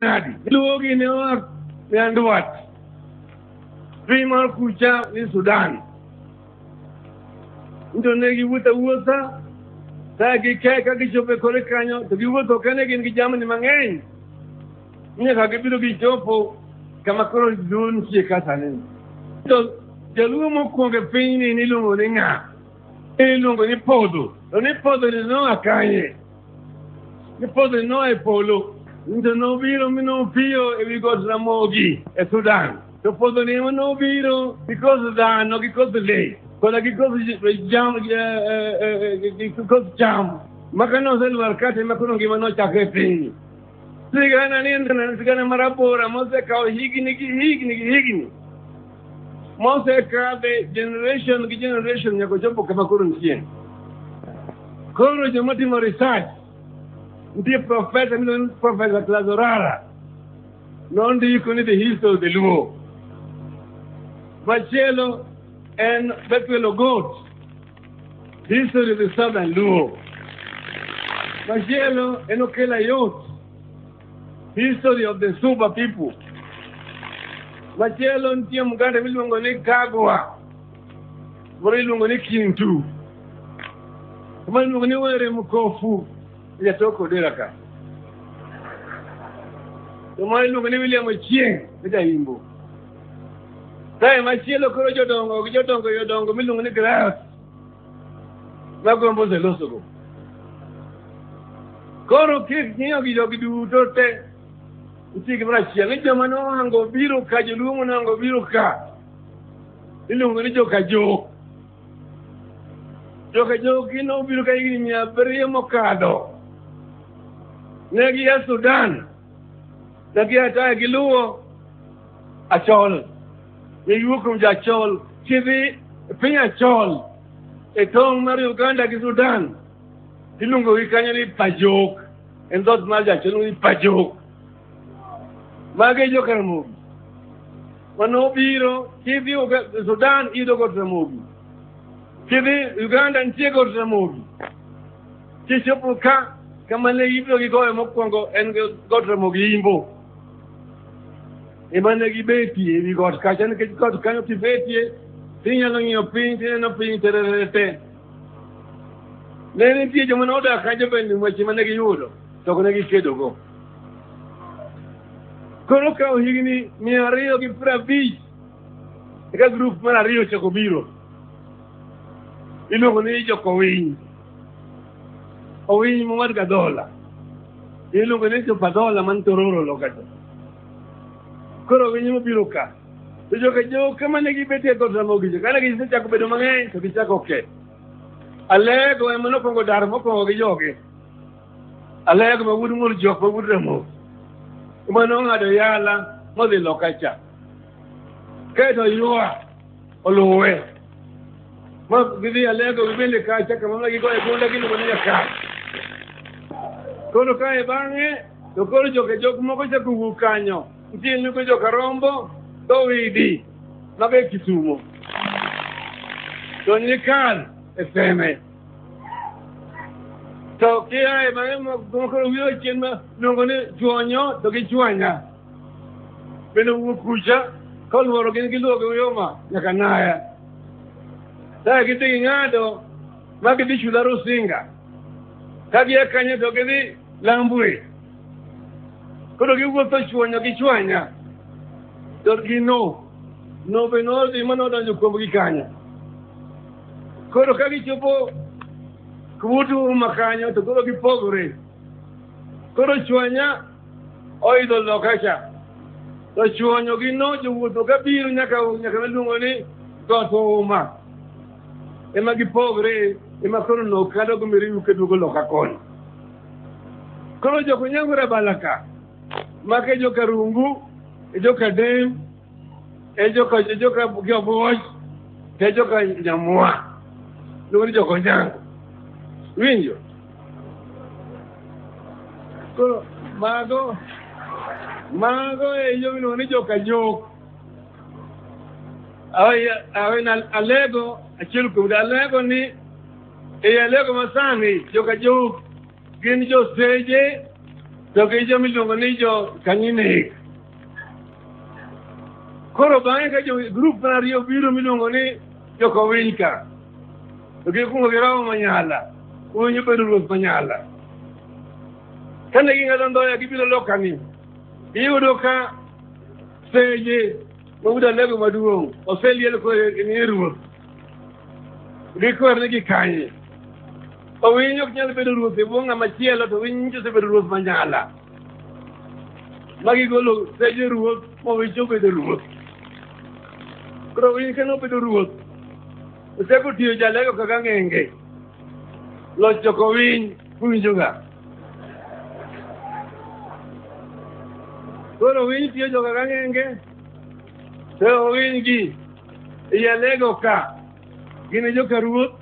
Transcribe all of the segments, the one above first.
nadi iluwo gini oa nyandwat piny mar kucha ni sudan nto ne giwuotho awuotha ka gike ka gichopo e kore kanyo to giwuotho kene gin gi jamni mang'eny nyaka gibiro gichopo kama koro duol nitie kasani to jaluo mokwongo e pinyni niluongo ni ng'a iluongo ni podho to ni podho ni noa kanye Nipote no e polo. Nto no biro mi no piyo e wi got Ramogi e Sudan. To podho ni ema no biro because dhano gi koth le koda gi koth jam gi eh, eh, eh, koth cham maka noselwar kate ma koro ngima nochakre e piny Sigana nindana sigana marabora mose kawo higni gi higni gi higni mose kadhe generation gi generation nyaka ochopo kama koro nitie koro joma timo research nitie profesa miluongo ni profesa Clazorara nondiko ni the history of the Luo machielo en Bethuel Ogot History of the Southern Luo. Machielo en okela yot. History of the Suba people. Machielo nitie mganda miluongo ni Kagwa. Moro iluongo ni Kintu. Moro iluongo ni Were Mkofu. Jatoko Odera ka. Moro iluongo ni William Ochieng. Jaimbo. Kae machielo koro jodongo gi jodongo jodongo miluongo ni grass magombo oselosogo. Koro kik ng'iyo gi jogi duto te nitie gimoro achiel ni joma nohango biro ka joluo monohango biro ka iluongo ni joka jok joka jok gi nobiro ka higni mia abiriyo mokadho ne gia Sudan Dagia ataya gi luwo achol. Iwuok kuom jachol kidhi e piny achol e tong' mar Uganda gi Sudan. Iluongo gi kanyo ni pajok. En dhoot mar jachol iluongo ni pajok. Magi e jokaramogi. Mano obiro kidhi Uga- Sudan iyudo god Ramogi. Kidhi Uganda nitie god Ramogi. Kichopo ka kama ne ibiro gi gowe mokwongo en god Ramogi Imbo ema ne gibetie ewi got kacha nikech got kanyo kibetie tinyalo ng'iyo piny tineno piny tererete ne nitie joma ne odak kanyo bende weche ma ne giyudo to ok ne gikedogo koro kawo higni mia ariyo gi piero abich eka grup mar ariyo ochako biro iluongo ni jokowiny owiny mowad ga dhola iluongo ni jopa dhola man tororo lokacha koro winyi mobiro ka to joka joka mane gibetie dhood ramogijo kane gisechako bedo mang'eny to gichako ke alego ema nokwongo dar mokwongo gi joge alego ma wuod ng'ol jok ma wuod ramogi ema nong'ado yala modhi lokacha kaeto ywa oluwe ma gidhi alego gibende kacha kama ma gigoye gunda giluongo ni jakar koro kae bang'e to koro joke jok moko chako wuok kanyo nitie nugo joka rombo dhowidi maga e kisumo to nikal e seme to kiae bang'e mokoro wiyo chien ma luongo ni chuonyo to gi chuanya bende wuok kucha kolworo gin giluoge uyoma nyaka naya kae gidhi ging'ado ma gidhi chula rusinga ka gia kanyo to gidhi lambwe koro giwuotho chwanyo gi chwanya to gino no be nodhi ma nodonjo kuomgi kanyo koro ka gichopo kubutu uma kanyo to koro gipogore koro chwanya oidho lokacha to chuonyo gi no jowuotho ka biro nyaka nyaka miluongo ni got ouma ema gipogre ema koro no kado gomiriwu keduogo loka koni koro joko nyangore balaka maka e joka rungu e joka dem e joka e joka giobuoch to e joka nyamwa luongo ni joko nyango winjo Koro mago mago e yo miluongo ni joka nyok. Awen alego achiel kuom alego ni e alego masani joka jok gin joseje to gi jo miluongo ni jo kanyinek. Koro bang'e ka jo grup mar ariyo biro miluongo ni joka owiny ka. to gi kungo gi romo manyala kunyo bedo ruoth manyala kane ging'ado ndhoya gibiro lokani iyudo ka seje mawuda lego maduong' oseliel koni ruoth gikwerne gi kanye owinyo ok nyal bedo ruoth e bwo ng'ama chielo to winyo osebedo ruoth manyala magigolo seje ruoth mowinjo obedo ruoth koro winy kane obedo ruoth oseko tiyo jalego kaka ng'enge loch choko winy uwinjoga koro winy tiyo jo kaka ng'enge to owiny gi jalego ka gin e joka ruoth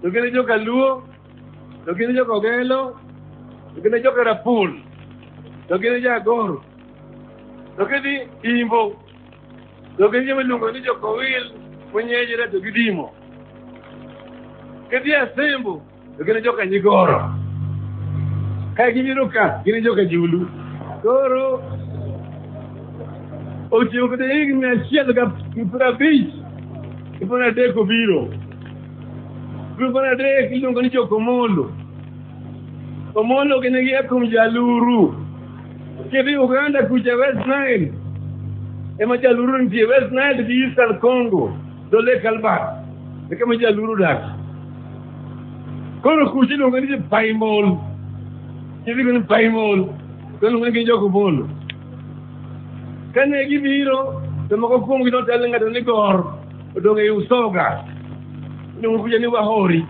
to gin e joka luo to gin jo Kogelo, to gin jo Karapul, to gin jo Agoro, to gidhi Imbo, to gin joma iluongo ni jo Kowil, Munyejere to gidimo. Gidhi Asembo, to gin jo Kanyigoro. Ka gibiro ka, gin jo Kajulu. Koro otiyo kata higni achiel gi piero abich gi piero adek obiro Grup mar adek iluongo ni jo-Komolo. Komolo gin gia kuom jaluru. Kidhi Uganda kucha West Nile, ema jaluru nitie West Nile gi Eastern Congo, dho Lake Albert, e kama jaluru dak. Koro kucha iluongo ni jo-Paimol. Kidhi kuno ni Paimol, to iluongo ni gin jo-Komolo. Kane gibiro, to moko kuomgi notel ng'ato ni Gor. odong' ei usoga odong' kuja ni wahori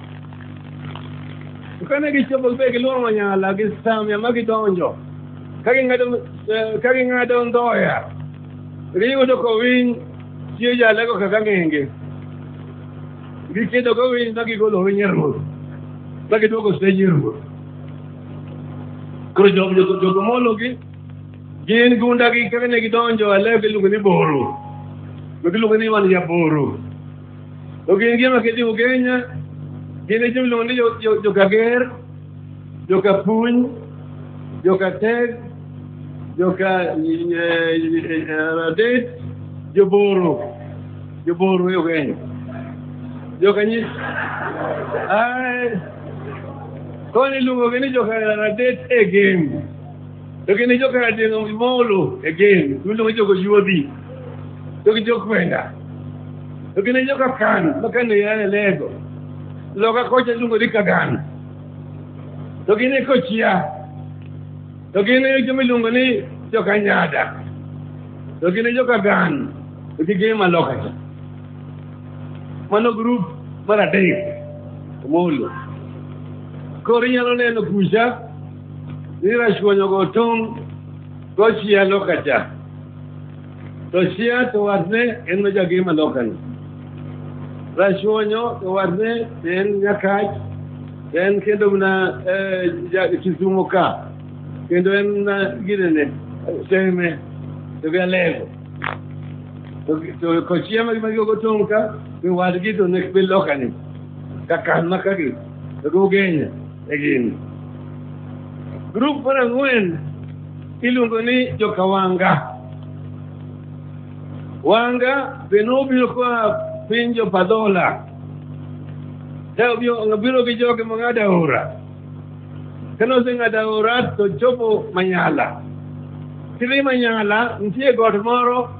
To kane gichopo gibedo gi luoro manyala gi samya ma gidonjo ka ging'ado eh, ka ging'ado ndhoya giyudo kowiny chiyo jalego kaka ng'enge gikedo kowiny ma gigolo winy e ruoth ma giduogo seji e ruoth koro jogo mologi Gin gundagi kaka ne gidonjo Alep iluongo ni Boro. To giluongo ni wan Jaboro. To gin gi ema kedi Ugenya, gin e joluongo ni jo- jo- Jokager, Jokapuny, Jokateg, Joka eh, eh, Adet, Joboro. Joboro e Ugenya. Jokanyis. Ai. Koni luongogi ni Jokadet e game. to gin ijo kar dino imolo again dundo ma jogo yuodhi to gi jokwenda to gin ijo ka kano ma kano yane lego loka kocha lungo di kagano to gin e kochia to gin e jo miluongo ni jokanyada to gin e jokagano to gi gin maloka cha mano grup mar adek omolo koro inyalo neno kucha ni rachwonyo go tung' tochia loka cha to chia to watne en majagima lokani rachwonyo to watne en nyakach to en kendo mna eh, ja- kisumo ka kendo en mna ginene seme to gi alego to gi- to kochia magimagigo tong' ka to wadgi to nek be lokani kakan makagi The Gugenya e gini. Grup mar ang'wen iluongo ni joka Wanga. Wanga be nobiro koa piny Jopadhola. Ne obiro obiro gi joge mong'ado aora. Kane oseng'ado aora to chopo Manyala. Kidhi Manyala nitie got moro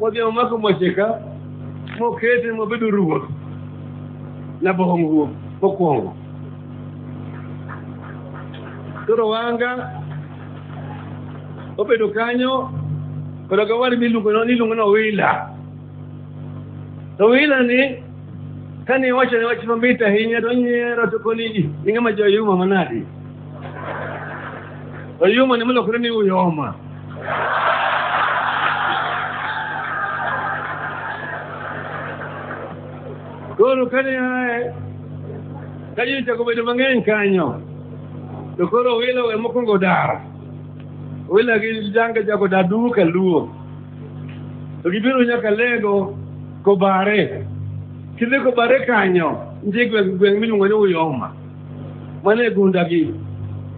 wadhi omako mwache ka mokete mobedo ruoth nabohom ruoth mokwongo toro wanga obedo kanyo koda kawari miluongo niluongo ni owila to owila ni kane iwachone wach mamit ahinya to onyiero to koni ji ing'ama joyuma manadi oyuma ne mulokore ni uyoma koro kane aye ka ji ochako bedo mang'eny kanyo to koro wilo we mokwongo dar wila gi jange chako dar duo ka luo to gibiro nyaka lego kobare kidhi kobare kanyo nitie gweng' gweng' miluongo ni uyoma ma ne gu ndag yi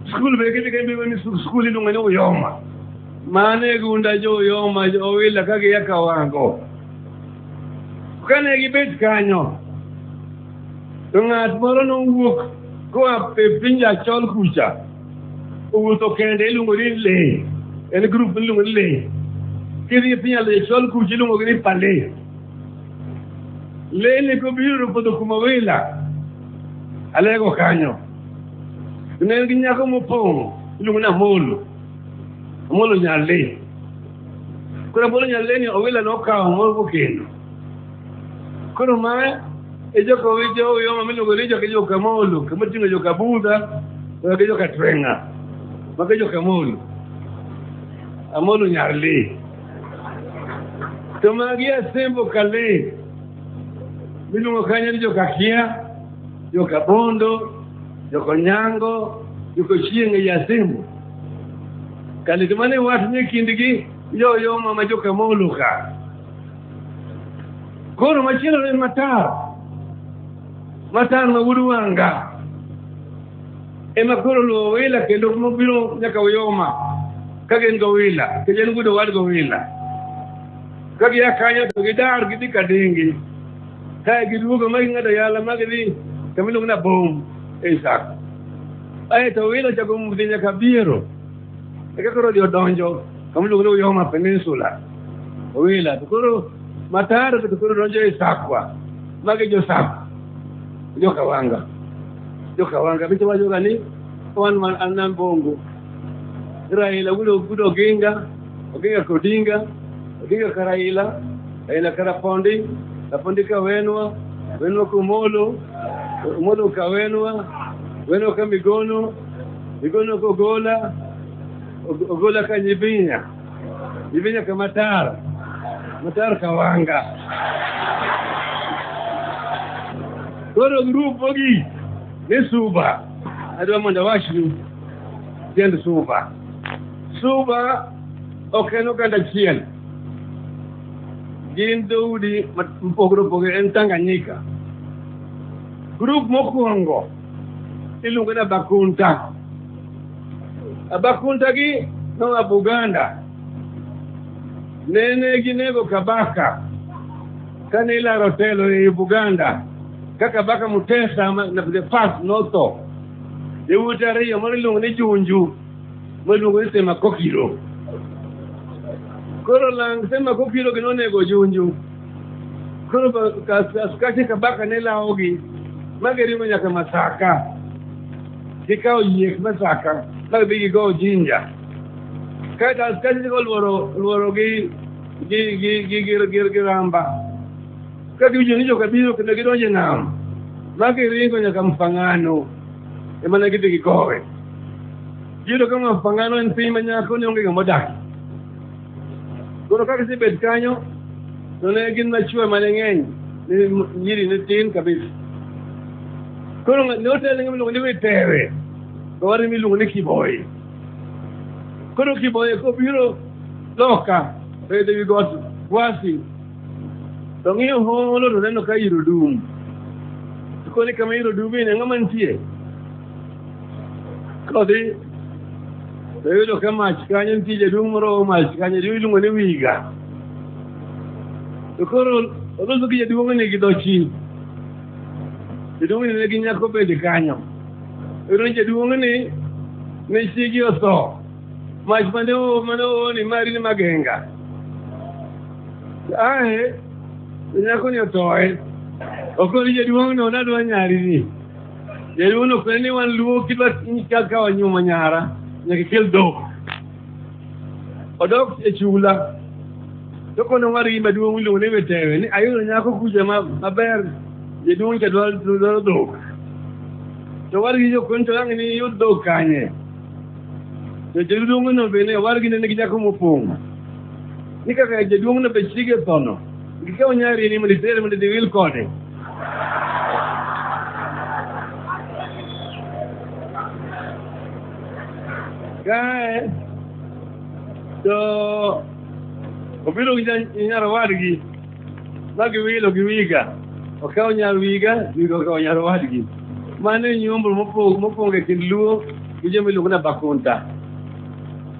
sukulu be kete kembe woni sukuli no ngani uyoma ma ne gu nda jo uyoma jo wila kage yaka wango kane gi bet kanyo to ng'at moro nowuok koa e piny achol kucha owuotho kende iluongo ni le en grup iluongo ni le kidhi e piny achol kucha iluongo gi ni pale le ni kobiro podho kuma wila alego kanyo ne en gi nyako mopong' iluongo ni amolo amolo nyalle koro amolo nyalle ni owila nokawo moro mokendo koro ma e joka owijo oyoma miluongo ni joka joka molo kama ting'o joka budha oyoge joka tweng'a mage joka molo amolo nyalle to magi asembo kale Miluongo kanyo ni jokakia, jokabondo, jokonyango, jokochieng' ei asimbo. Kale to mane wat ni kindgi yoyo mama jokamolo ka. Koro machielo ne matar. Matar ma wuod wanga. Ema koro luwo wila kendo mobiro nyaka uyoma. Ka gin gowila, kendo en gudo wad gowila. ka gia kanyo to gidar gidhi kadingi kae giduogo ma ging'ado yala ma gidhi kama iluongo na bom e isaka ae to wilo chako mudhi nyaka biero eka koro odhi odonjo kama iluongo ni uyoma peninsula owila to koro mataro to koro donjo e sakwa magi josakwa jokawanga jokawanga bicho wajoga ni wan man an nam bongo raila wulo gudo ginga Oginga ka Odinga, Odinga ka Raila, Raila ka Rapondi, Rapondi ka Wenwa, Wenwa ka Omolo, Omolo ka Wenwa, Wenwa ka Migono, Migono ka Ogola, Og- Ogola ka Nyibinya, Nyibinya ka Matar, Matar ka Wanga. Koro grup ogi ni Suba, adwa mondo awachnu tiend Suba. Suba ok en oganda achiel. Gin dhoudi mopogore opogore en Tanganyika. Grup mokwongo iluongo ni Abakunta. Abakunta gi noa Buganda. Nene ginego Kabaka kane ilaro telo e Buganda ka Kabaka Mutesa the first notho. Yawuote ariyo moro iluongo ni Junju Mwaluongo ni sema kokiro. Koro lang sema kokiro gi nonego junju. Koro ba- kas- askache kabaka ne lawogi ma giringo nyaka Masaka. Gikawo yiek Masaka ma gidhi gigowo Jinja. Kaeto askache chako lworo lworo gi gi gi gi gi- gi- gi ramba. Ka giwinjo ni joka biro kendo gidonjo e nam ma giringo nyaka Mfangano. emana gidhi gigowe iyudo ka ng'ato pangano en piny ma nyako ne onge ng'ama odaki koro ka gisebet kanyo to ne gin machwe mane ng'eny nyiri ne tin kabisa koro ne otele ng'ama iluongo ni witere to wari miluongo ni kiboyi koro kiboyi kobiro loka to idhi gi got gwasi to ng'iyo holo to neno ka iro dum to koni kama iro dumie ne ng'ama nitie kodhi to yudo ka mach kanyo nitie jaduong' moro mach kanyo jaduong' iluongo ni wiga to koro oloso gi jaduong'ni gi dhochi jaduong'ni ne gi nyako bende kanyo ero jaduong'ni ne chiegi otho Mas mane mane oone mari ni magenga. Ae nyako ni othoe. Ok ni jaduong' no nadwa nyari ni. Jaduong' no kwe ni wan luo kidwa nyika ka wanyuomo nyara nyaka kel dhok. Odok e chula. To kono ng'ar gi maduong' iluongo ni wetewe ni ayudo nyako kuja ma- maber jaduong' cha dwaro dwaro dhok. To war gi jokony to ang' ni yud dhok kanye. To jaduong'no bende owargi nene gi nyako mopong'. Ni kaka jaduong'no be chiege thono. Gikawo nyari ni mondo itere mondo idhi wil kode. Kae to obiro gi nya- nyar owadgi ma giwilo gi wiga okawo nyar wiga wiga okawo nyar owadgi mano e nyombo mopong' mopong' e kind luo gi joma iluongo ni abakunta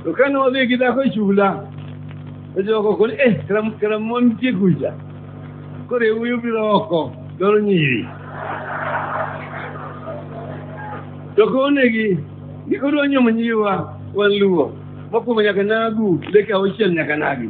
to kane wadhi gi dhako e chula to jogo koni eh karam- karamon nitie kucha koro e wuyo biro oko dwaro nyiri to konegi ni kodwa nyomo nyiwa wan luo mokwongo nyaka nagu leke auchiel nyaka nagi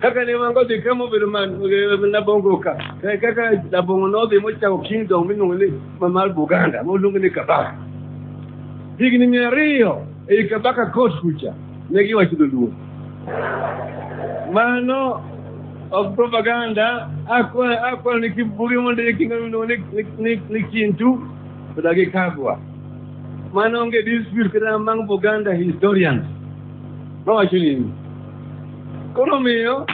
kaka ne wan kodhi kama obedo man labongo ka Eh, kaka labongo nodhi mochako kingdom miluongo ni ma- mar buganda moluongo ni kabaka higni mia ariyo ei kabaka kot kucha ne giwacho dholuo mano of propaganda akwa akwa ni kibuge mondo ye kinga miluongo ni- ni- ni- ni kintu to dagi kagwa mano onge dispute kata among buganda historians nowacho nini Koro miyo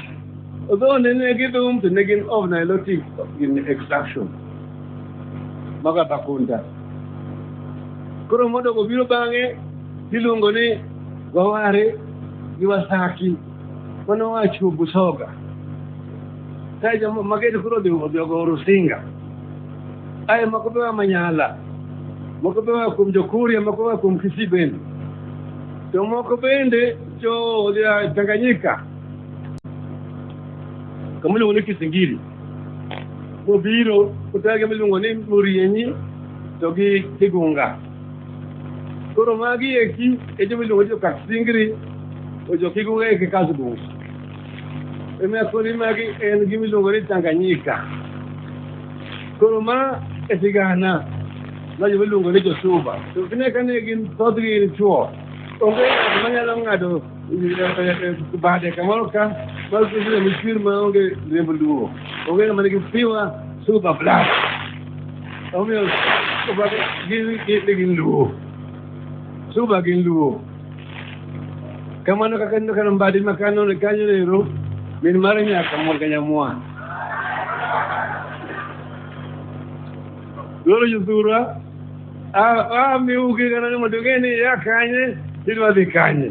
odhone ne gidhum to ne gin of nilotic in extraction maga bakunda koro modogo biro bang'e iluongo ni waware gi wasaki mano wacho busoga kae joma magedi koro odhi odhi ogo rusinga aye moko be wa manyala moko be wa kuom jokuria moko wa kuom kisii bende to moko bende cho lya Tanganyika kamulungu ni kisingili mubiro kutage miluongo ni murienyi to gi kigunga koro magi eki e joma iluongo ni jokasingri to jokigunga eki kasgungu emiya koni magi en gima iluongo ni Tanganyika koro ma e sigana ma joma iluongo ni josuba to gine kane gin thothgi gin chuo Onge ng'ato manyalo ng'ado bade kamoro ka mar kuonde michwir ma onge riembo luwo. Onge ng'ama nigi piwa super black. Omiyo super gin gin gin luwo. Super gin luwo. Kamano kaka neno kano mbadi ma kano ne kanyo nero min mare nyaka mor ka nyamwa. Loro josura a miugi kana ni mondo ing'e ni ya kanye idwa dhi kanye.